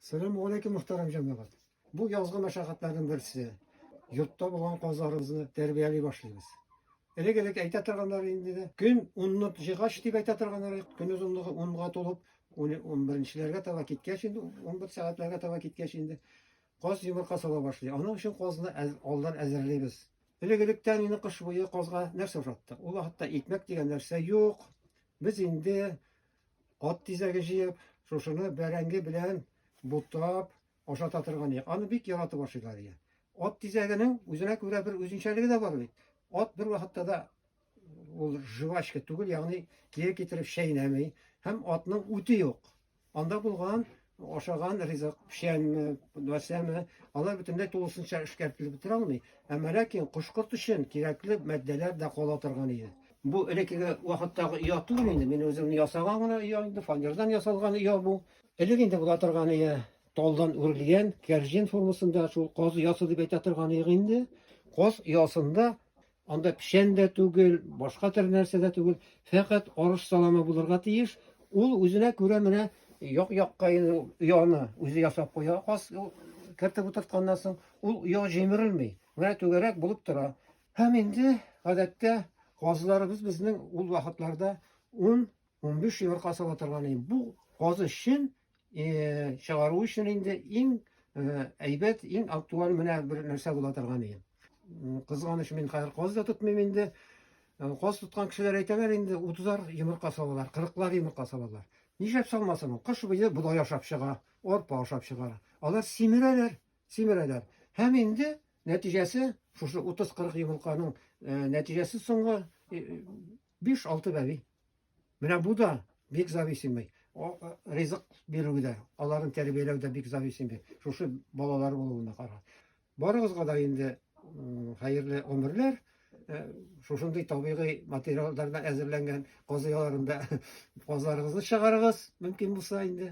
Сәлам алейкум, мөхтәрәм җәмәгать. Бу язгы мәшәкатьләрнең берсе. Йортта булган казларыбызны тәрбияли башлыйбыз. Элек-элек әйтә торганнар инде, көн 10-ны җигач дип әйтә торганнар, көн озынлыгы 10-га тулып, 11-ләргә таба киткәч инде, 11 сәгатьләргә таба киткәч инде каз йомырка сала башлый. Аның өчен казны алдан әзерлибез. Элек-электән инде кыш буе казга нәрсә ошатты? Ул вакытта икмәк дигән нәрсә юк. Без инде Ат тизәге җыеп, шушыны бәрәңге белән бутап ашата торган ия. Аны бик яратып ашыйлар ия. Ат тизәгенең үзенә күрә бер үзенчәлеге дә бар бит. Ат бер вакытта да ул жвачка түгел, ягъни кире китереп чәйнәми һәм атның үте юк. Анда булган ашаган ризык, печәнме, нәрсәме, алар бөтенләй тулысынча эшкәртелеп бетерә алмый. Әмма ләкин кош-корт өчен кирәкле матдәләр дә кала торган иде. Бу элеккеге вакыттагы оя түгел инде, мин үзем ясаган гына оя инде, фанердан ясалган оя бу. Элек инде була торган оя талдан үрелгән, кәрҗин формасында шул каз оясы дип әйтә торган инде. Каз оясында Анда печән дә түгел, башка төр нәрсә дә түгел, фәкать арыш саламы булырга тиеш. Ул үзенә күрә менә як-якка инде ояны үзе ясап куя. Каз кертеп утыртканнан соң ул оя җимерелми. Менә түгәрәк булып тора. Һәм инде гадәттә казларыбыз безнең ул вакытларда 10-15 йомырка сала торган иде. Бу казы чын чыгару өчен инде иң әйбәт, иң актуаль менә бер нәрсә була торган иде. Кызганыч мин хәзер каз да тотмыйм инде. Каз тоткан кешеләр әйтәләр инде, утызар йомырка салалар, кырыклар йомырка салалар. Нишләп салмасын ул? Кыш буе бодай ашап чыга, арпа ашап чыгар. Алар симерәләр, симерәләр. Һәм инде нәтиҗәсе шушы 30-40 йомырканың нәтиҗәсе соңгы Биш-алты бәби. Менә бу да бик зависимый. Ризык бирү дә, аларын тәрбияләү дә бик зависимый. Шушы балалар булуына кара. Барыгызга да инде хәерле гомерләр. Э, шушындый табигый материалдардан әзерләнгән казыяларында казларыгызны чыгарыгыз, мөмкин булса инде.